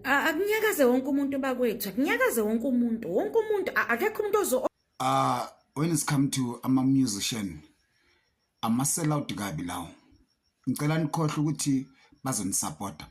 akunyakaze wonke umuntu bakwethu akunyakaze wonke umuntu wonke umuntu akekho umuntu ozo uh when it's come to ama musician ama sell out kabi lawo ngicela nikhohle ukuthi bazonisupporta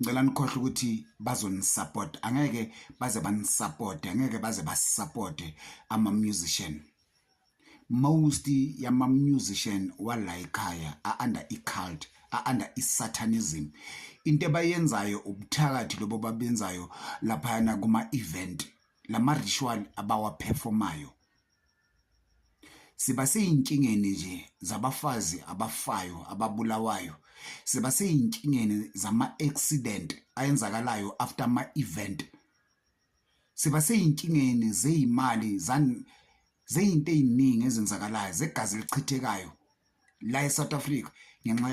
ngicela nikhohle ukuthi bazonisupporta angeke baze banisupporte angeke baze basupporte ama musician most yama musician wala ekhaya a under i cult a under i satanism into ebayenzayo ubuthakathi lobo babenzayo lapha na kuma event lama ritual abawa performayo siba seyinkingeni nje zabafazi abafayo ababulawayo siba seyinkingeni zama accident ayenzakalayo after ama event siba seyinkingeni zeyimali zeyinto eziningi ezenzakalayo zegazi elichithekayo la eSouth Africa ngenxa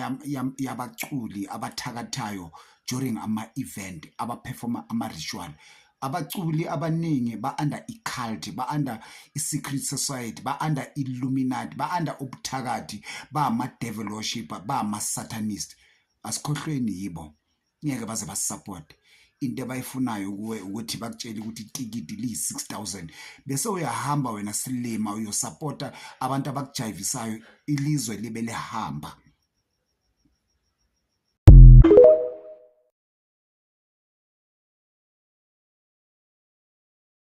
yabaculi abathakathayo during ama event abaperforma ama ritual abaculi abaningi ba under i cult ba under i secret society ba under illuminati ba under ubuthakathi ba ama devil worshipper ba ama satanist asikhohlweni yibo ngeke baze basisupport into abayifunayo kuwe ukuthi bakutshele ukuthi itikiti liyi-6000 bese uyahamba wena silima uyosapota abantu abakujayivisayo ilizwe libe lihamba